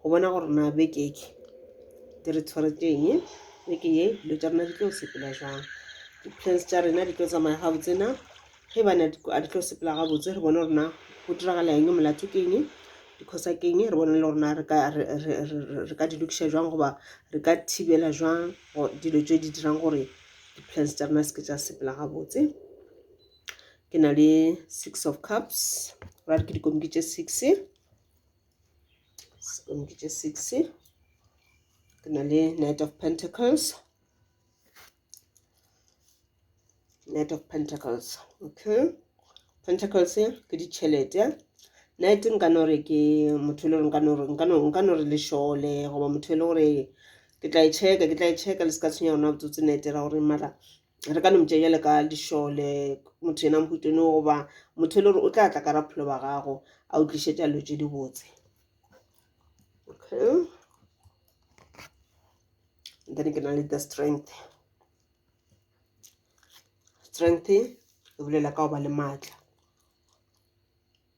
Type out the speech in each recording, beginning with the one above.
go bona gore na beke e di re tshwaretseng beke e dilo tša rena di tlo sepela jang di-plans tša rena di tlo tsamaya gabotse na ge bana a di tlo sepela gabotse re bone gore na go diragala eng molato ke eng dikgosa ke eng re bone le gore na re ka di lokiša jwang goba re ka thibela jwang dilo tse di dirang gore di-plans tša rena se ke tša sepela gabotse ke na le six of cups ra re ke dikomiki tše six sekono ke tše six ke na le night of pentacles night of pentacles okay pentacles ke ditšhelete night nka no re ke motho e le gore nka no re nka no nka no re lešole goba motho e le gore ke tla e checka ke tla e checka le se ka tshwenya rona botsotsi night ra gore mara re ka no motšea jale ka dišole motho yena mohutone goba motho e le gore o tla tla ka rapholo ba gago a o tlišetša dilo tše dibotse okay then ke na le the strength strength e bolela ka go ba le maatla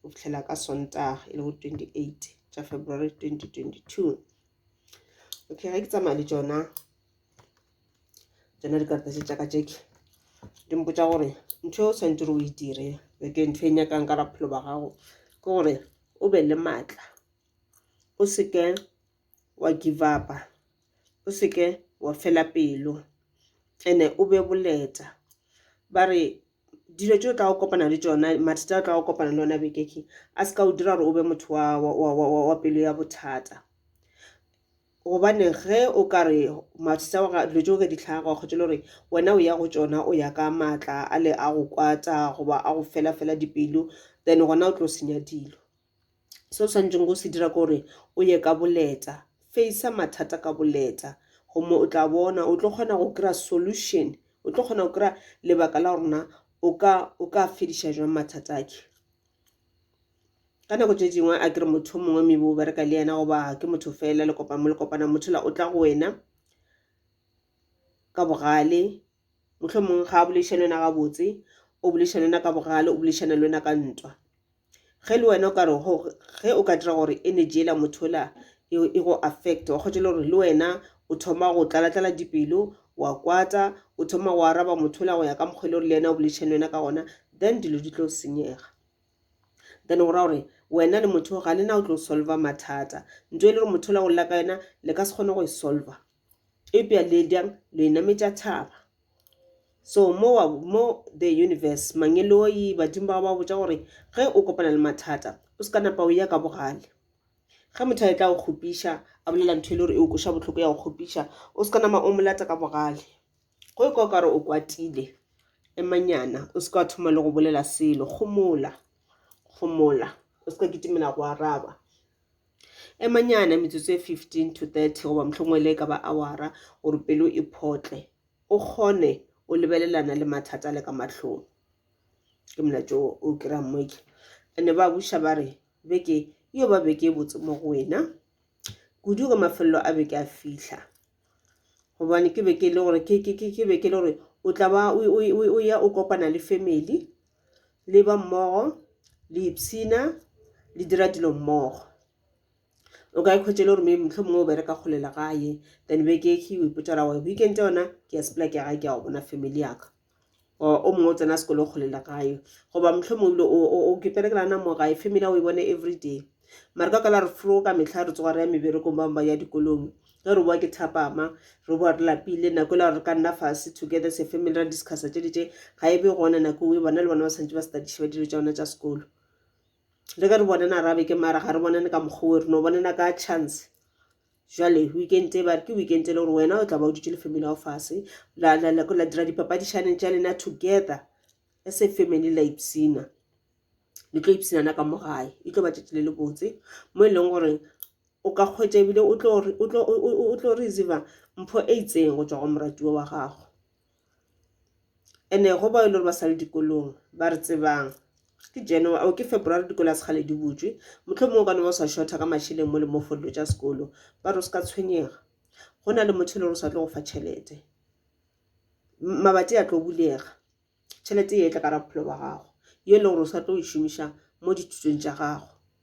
go fihlela ka sontaga e le go 28 tša february 2022 okay ge ke tsamaya le tšona tsona dikarata tse tšaka tše ke di mpotsa gore ntho e o tshwanetse gore o e dire ke ntho e nyakang ka raphelo ba gago ke gore o be le maatla o seke wa give upa o seke wa fela pelo ene o be boleta ba re dilo tše o tlago kopana le tšona mathata a o tlago kopana le ona bekeke a se ka o dira gore o be motho wa pelo ya bothata gobane ge o ka re mathata wa dilo tše o ka di tlhaga kgotsa le gore wena o ya go tšona o ya ka maatla a le a go kwata goba a go fela fela dipelo then gona o tlo senya dilo Se o swanetšego go se dira ke gore o ye ka boleta, face-a mathata ka boleta gomme o tla bona o tlo kgona go kry-a solution, o tlo kgona go kry-a lebaka la gore na o ka o ka fediša jwang mathata a ke. Ka nako tše dingwe a ke re motho yo mongwe maybe o bereka le yena goba ke motho fela le kopana mo le kopana motho yola o tla go wena ka bogale. mohlomong ga a boleiša le wena gabotse o boleiša le wena ka bogale o boleišana le wena ka ntwa ge le wena o ka re ge o ka dira gore energy ela motho la e go affect wa kgotsa le gore le wena o thoma go tlalatlala dipelo wa kwata o thoma go araba motho la go ya ka mokgwa e le gore le yena o boleišana le wena ka gona then dilo di tlo senyega then go ra gore wena le motho ga lena o tlo solva mathata nto e le gore motho la go lla ka yena le ka se kgone go e solva Eupša le bjang lo inametša thaba. So mowa mo the universe, mangeloi, badimo ba ba botša gore ge o kopana le mathata o se ka napa o ya ka bogale. Ge motho a etla go kgopiša a bolela ntho e le gore e o kweša bohloko ya go kgopiša o se ka nama o mo lata ka bogale. Go e kwa o ka re o kwatile emanyana o se ka wa thoma le go bolela selo. Gomola, gomola o se ka kitimela go araba. Emanyana metsotso e 15 to 30 goba mohlomongwe le e ka ba awara gore pelo e photle, o kgone o lebelelana le mathata a le ka mahlong. Ke molaetša o o kry-ang mo ke. And-e ba buša ba re beke e yo ba beke e botse mo go wena kudu ge mafelelo a beke a fihla. gobane ke be ke le gore ke be ke le gore o tla ba o ya o kopana le family le ba mmogo le ipshina le dira dilo mmogo o ka ikhwetša e le gore maybe mohlomongwe o bereka kgole le gae then beke e kgwi o ipotša ra gore weekend yona ke ya sepela ke ya gae ke ya go bona family yaka. or o mongwe o tsena sekolo kgole le gae goba mohlomong ebile o kepere ke nana mo gae family ya o e bone every day mare ka kala re fro ka metlha re tsoga re ya meberekong bangwe ba ya dikolong ge re boa ke thapama re boa re lapile nako e le gore re ka nna fase together as a family ra discussa tše di tše ga e be gona nako e bona le bona ba tshwanetse ba studiše ba dilo tša bona tša sekolo le ge re bonana arabe ke mara ga re bonane ka mokgwa o re no bonana ka chance jwale weekend e bare ke weekend e le gore wena o tla ba o dutse le family ya go fase la dira dipapadišaneng tša lena together e se family la ipsina le tlo ipsinana ka mo gae e tlo ba tšatši le le botse mo e leng gore o ka kgwetša ebile o tlo receiva mpho e itseng go tswa go moratiwa wa gago ene go bao e le gore ba sale dikolong ba re tsebang ke january or ke february dikolo ga se kgale di butšwe motlho mongwe o ka no ba o sa shortha ka mašeleng mo le mo for dilo tša sekolo ba re o se ka tshwenyega go na le motho e le gore o sa tlo go fa tšhelete mabati a tlo bulega tšhelete e tla ka ra bophelo ba gago yo e le gore o sa tlo e šomiša mo dithutong tša gago.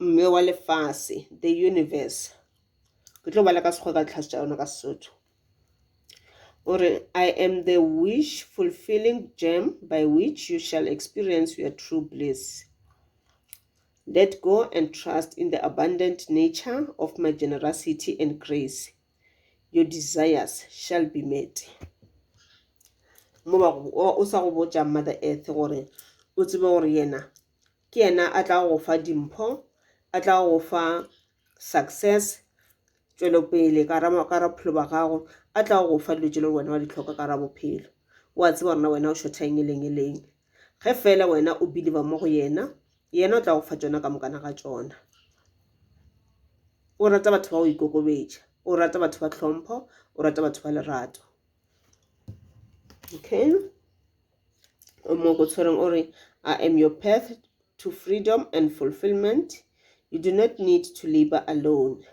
mme wa lefase the universe ke tlo bala ka sekgowa ka ditlhase tša yona ka sesotho o re i am the wish fulfilling gem by which you shall experience your true bliss let go and trust in the abundant nature of my generosity and grace your desires shall be met mo o sa go botša mother earth gore o tsebe gore yena ke yena a tla go fa dimpho a tla go fa success tšwelopele ka ra bophelo ba gago a tla go fa dilo tse le wena wa di tlhoka ka ra bophelo wa tseba rona wena o shothaeng e leng e leng ge fela wena o believe mo go yena yena o tla go fa tsona ka mokana ga tsona o rata batho ba go ikokobetša o rata batho ba tlhompho o rata batho ba lerato okay o mo go tshwereng o re i am your path to freedom and fulfillment you do not need to labor alone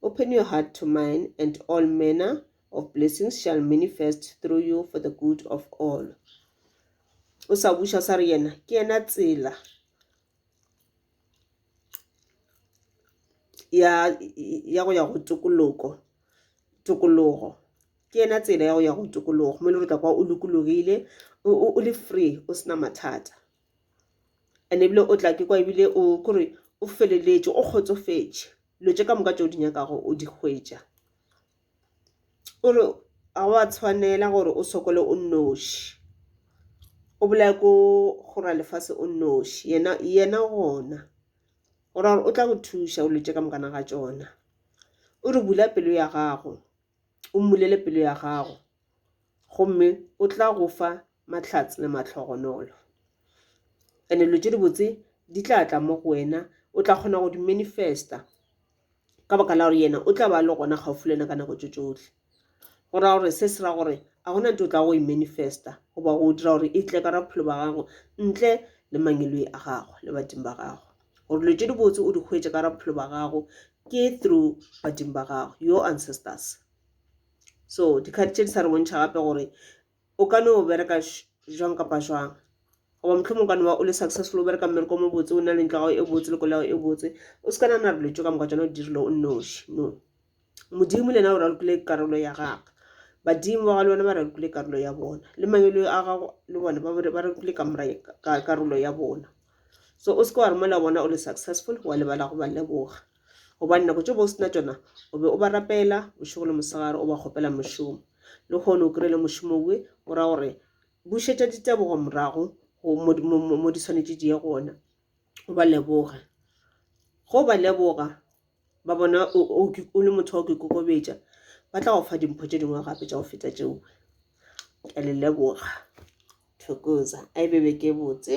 open your heart to mine and all manner of blessings shall manifest through you for the good of all o sa buša sa re yena ke yena tsela ya ya go ya go tokoloko tokologo ke yena tsela ya go ya go tokologo mo e le gore tla kwa o lokologile o o- o le free o sena mathata and ebile o tla ke kwa ebile o kore o feleletše o kgotsofetše dilo tše ka moka tše o di nyakago o di hwetša o re ga wa tshwanela gore o sokole o nnoši o bolaye ko go ralefase o nnoši yena yena gona o ra gore o tla go thuša o dilo tše ka moka ga tšona o re bula pelo ya gago o mmulele pelo ya gago gomme o tla go fa mahlatse le mahlogonolo and-e dilo tše dibotse di tla tla mo go wena o tla kgona go di manifesta. ka baka la gore yena o tla ba le gona gaufi le wena ka nako tso tsohle go ra gore se se ra gore a gona nto o tla go e manifesta goba go dira gore e tle ka ra bophelo ba gago ntle le mangeloi a gago le badimo ba gago gore dilo tse dibotse o di hwetše ka ra bophelo ba gago ke through badimo ba gago your ancestors so dikgadi tše di sa re bontšha gape gore o ka no bereka jwang kapa jwang goba mohlomong ka no ba o le successful o bereka mmereko o mobotse o na le ntlo ya gago e botse le kolo ya gago e botse o se ka nana re letšo ka moka tsone o dirile o nnoši no modimo le yena o ralokile karolo ya gagwe badimo ba ga le bona ba ralokile karolo ya bona le mangelo a gago le bona ba ralokile karolo ya bona so o se ke wa re mola bona o le successful wa lebala go ba leboga gobane nako tše bo o sena tšona o be o ba rapela bošego le mosegare o ba kgopela mošomo le kgone o kry-e le mošomo owe o ra gore bušetša ditebogo morago mo di tshwanetse di ye gona o ba leboge go ba leboga ba bona o le motho wa go ikokobetša ba tla go fa dimpho tše dingwe gape tša go feta tšeo ke a le leboga thokoza a e bebe ke botse